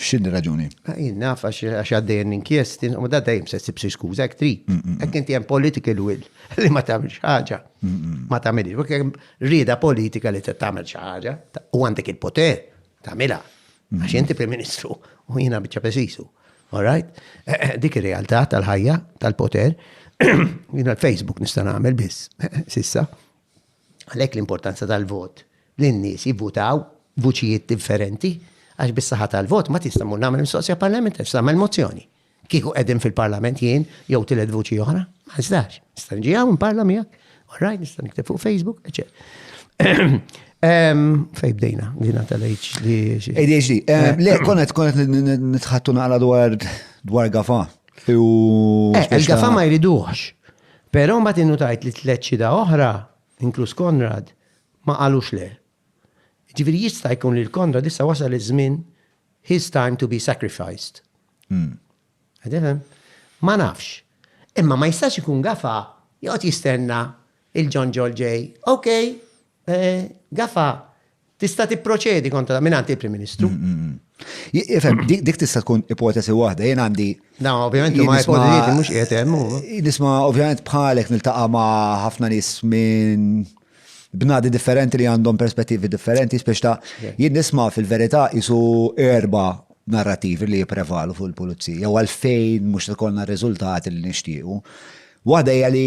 X'inhi raġuni? Jien naf għax għaddejjen l-inkjesti, u da dejjem se ssib xi skuża hekk trid. Hekk inti hemm political will li ma tagħmilx ħaġa. Ma tagħmilx. Hekk hemm rieda politika li tagħmel xi ħaġa u għandek il-poter tagħmilha. Għax inti Prim Ministru u jiena biċċa pesisu. All right? Eh, eh, dik ir-realtà tal-ħajja, tal-poter, jiena l-Facebook nista' nagħmel biss, sissa. Għalhekk l-importanza tal-vot, li n-nies jivvutaw b'vuċijiet differenti, għax bis-saħħa tal-vot ma tista' mmur nagħmel mistoqsija parlamentari, tista' tagħmel mozzjoni. Kieku qegħdin fil-Parlament jien jew tielet vuċi oħra, ma nistax. Nista' niġi hawn nparla miegħek, orajt nista' nikteb fuq Facebook, eċċetera. Fej bdejna, bdejna tal-ADHD. ADHD. Eh, eh. Le, konet, konet nitħattu naqra dwar dwar gafa. U. Eh, il-gafa ma jriduħx. Però mbagħad innutajt li tliet xhieda oħra, inkluż Konrad, ma qalux le. Jiġifieri jista' jkun li l-Konrad issa wasal iż-żmien his time to be sacrificed. Qed tifhem? Ma nafx. Imma ma jistax ikun Gafa joqgħod jistenna 'il John Ġorġ ġej, ok, Gafa tista' tipproċedi kontra mingħand il-Prim Ministru. Ifhem, dik tista' tkun ipotesi waħda, jien għandi. Na, ovvjament, ma ipotesi mhux qiegħed hemm. Nisma' ovvjament bħalek niltaqa' ma' ħafna nies minn bnadi differenti li għandhom perspettivi differenti, spiex ta' jien nisma' fil-verità isu erba narrativi li jiprevalu fuq il-pulizija, jew għalfejn mhux tkollna riżultati li nixtiequ. Waħda hija li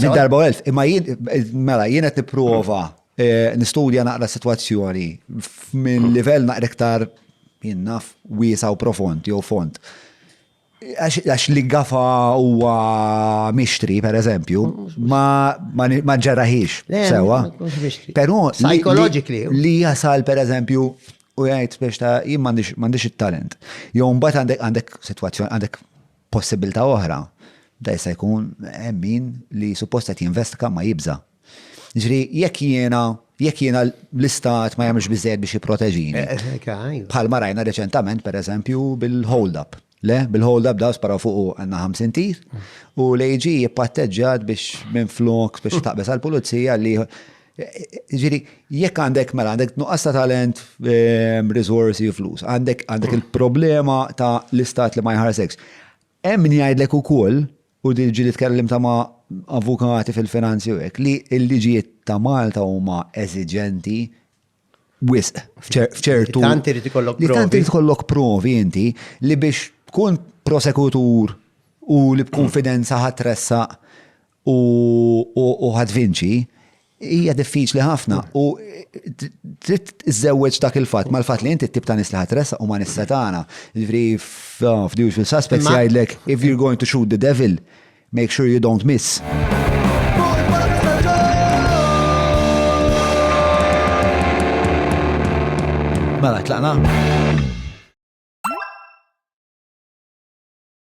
Darba u elf, imma jien, mela, jien qed nipprova eh, nistudja naqra situazzjoni minn livell naqra iktar jien naf wiesa u profond jew fond. Għax li gafa huwa mixtri, per eżempju, ma ġarraħix sewa. Però li jasal per eżempju u jgħid biex ta' jien m'għandix it-talent. Jew mbagħad għandek għandek sitwazzjoni għandek Possibilità oħra, da jista' jkun hemm min li suppost qed jinvestiga ma jibża'. Jiġri jekk jiena jekk jiena l-istat ma jagħmilx biżejjed biex jipproteġini. Bħal ma rajna reċentament pereżempju bil-hold up. Le, bil-hold up daw sparaw fuq għandna 50 tir u l-AG jippatteġġat biex minn flok biex taqbeż għall-pulizija li Ġiri, jekk għandek mela għandek nuqqas ta' talent, ehm, risorsi u flus, għandek għandek il-problema ta' l-istat li ma jħarsekx. Hemm min jgħidlek ukoll u din ġili tkellim ta' ma' avukati fil-finanzi u hekk li l-liġijiet ta' Malta huma eżiġenti wisq f'ċer- f'ċertu. Tant irid ikollok Li tant provi. irid kollok provi inti li biex tkun prosekutur u li b'konfidenza ħatressa u ħadd vinċi, hija diffiċli ħafna u trid iżżewweġ dak il-fatt mal-fatt li inti t-tip ta' nies li ħatresa u ma nista tagħna. Ġifri f'Dewġ fil-Suspects jgħidlek if you're going to shoot the devil, make sure you don't miss. Mela, tlaqna?